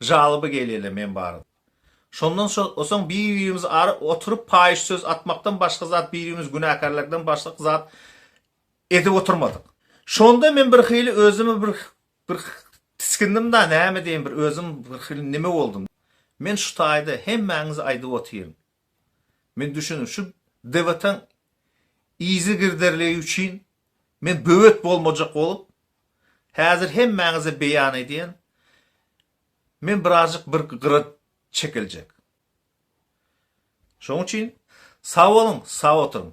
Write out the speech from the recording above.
Žaloba gelýärler men barada. Şondan soň bir-birimizi aryp oturyp paýyş söz atmakdan başga zat bir-birimizi günäkärlemekden başga zat edip oturmadyk. Şonda men birhili özümi bir bir tisgindim-da, näme diýen bir özüm birhili neme boldum. Men şu taýda hemmäňize aýdyp otyryn. Men düşündim, şu debataň yzy girderligi üçin men böwet bolmajak bolup, häzir hemmäňize beýan edýän, men birazjyk bir gyra çekiljek. Şoň üçin sag boluň, sag oturyň.